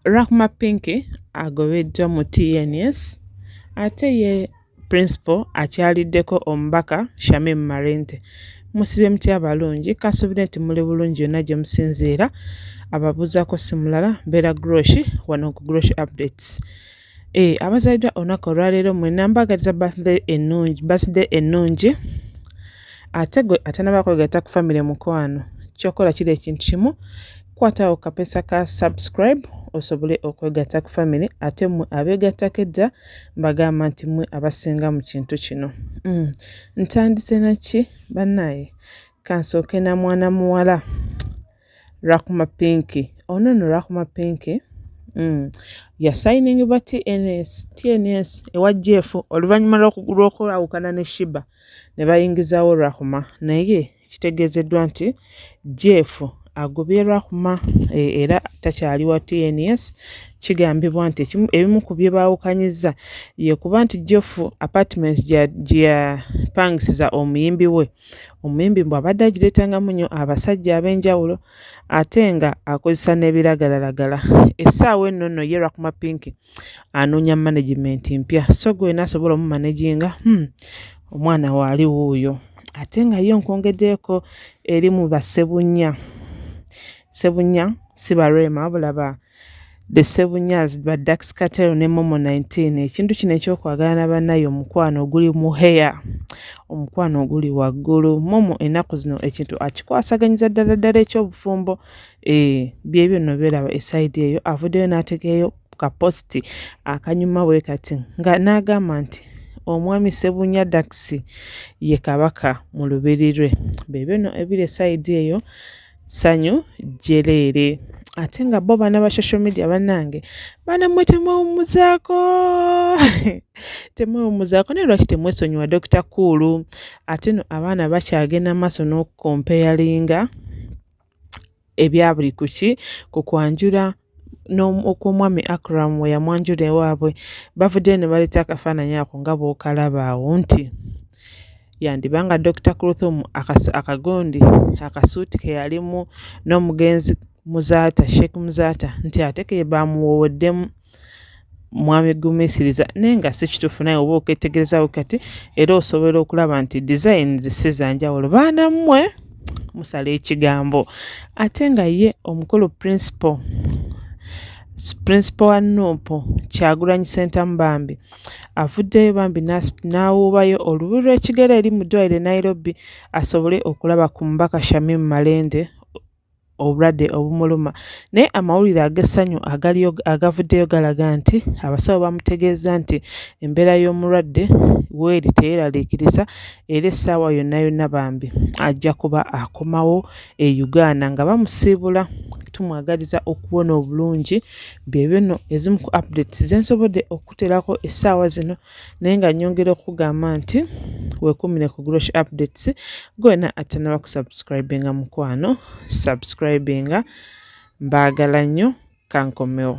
Rahma Pinky agobeddwa mu TNS ate ye Principal akyaliddeko omubaka Shamim Malende. Musibe mutya abalungi, kasuubira nti muli bulungi yonna gye musinziira. Ababuuzaako si mulala mbeera Groshi wano ku Groshi Updates. Eh, abazaliddwa olunaku olwaleero mwena mbaagaliza birthday ennungi birthday ennungi ate gwe atanaba kwegata ku famire mukwano kyokola kiri ekintu kimu kwatawo kapesa ka subscribe osobole okwegatta ku famire ate mwe abeegattako edda mbagamba nti mwe abasinga mu kintu kino mm. ntandise naki bannaye kansooke na mwana muwala Rahma Pinky ono no Rahma Pinky mm. yasayiningibwa TNS TNS ewa Jeff oluvannyuma lw'okwawukana ne Shiba ne bayingizawo Rahma naye kitegeezeddwa nti Jeff agobye Rahma e, era takyali wa TNS kigambibwa nti ebimu ku bye baawukanyizza ye kuba nti Jeff apartment gye yapangisiza omuyimbi we omuyimbi mbu abadde agireetangamu nnyo abasajja ab'enjawulo ate nga akozesa n'ebiragalalagala essaawa enno nno ye rakuma pinki anoonya management mpya so gwe wena asobola omumanaginga hmm, omwana waali wuuyo ate nga ye onkwongeddeeko eri mu basebunya sebunya si barema wabula ba, ba The Sebunyaz ba Dax Katero ne Momo 19 ekintu kino ekyokwagala na banaye omukwano oguli mu hair omukwano oguli waggulu Momo enaku zino ekintu akikwasaganyiza ddala ddala ekyobufumbo eh byebyo no belaba esaidi eyo avudeyo nategeyo ka post akanyuma we kati nga nagamba nti omwami Sebunya Dax ye kabaka mu lubiri lwe bebyo no ebire saidi eyo sanyu jeleere ate nga bo bana ba social media banange bana mwe temwewumuzako temwewumuzako naye lwaki temwesonyiwa dokita kuulu ate no abaana bakyagenda maaso n'okukompeyalinga ebya buli kuki ku kwanjula n'okw'omwami Akram we yamwanjula ewaabwe bavuddeyo ne baleeta akafaananyi ako nga bw'okalaba awo nti yandiba nga Dokita Kluthum akagondi akasuuti ke yalimu n'omugenzi Muzaata Sheikh Muzaata nti ate ke baamuwooweddemu mwami gumisiriza naye nga si kituufu naye oba oketegerezawo kati era osobola okulaba nti designs si zanjawulo baana mmwe musala ekigambo ate nga ye omukulu principal principal wa nuupu kyagulanyi sentamu bambi avuddeyo bambi n'awuubayo olubu lw'ekigere eri mu ddwaliro e nairobi asobole okulaba ku mubaka shamim malende obulwadde obumuluma naye amawulire ag'essanyu agaliyo agavuddeyo galaga nti abasawo bamutegeezza nti embeera y'omulwadde weeri teyeeraliikiriza era essaawa yonna yonna bambi ajja kuba akomawo e Uganda nga bamusiibula tumwagaliza okuwona obulungi byebyo nno ezimu ku updates zensobodde okukuteerako essaawa zino. naye nga nyongera okugamba nti wekumire ku grosh updates gwena atanaba kusubscribinga mukwano subscribinga mbaagala nnyo kankomewo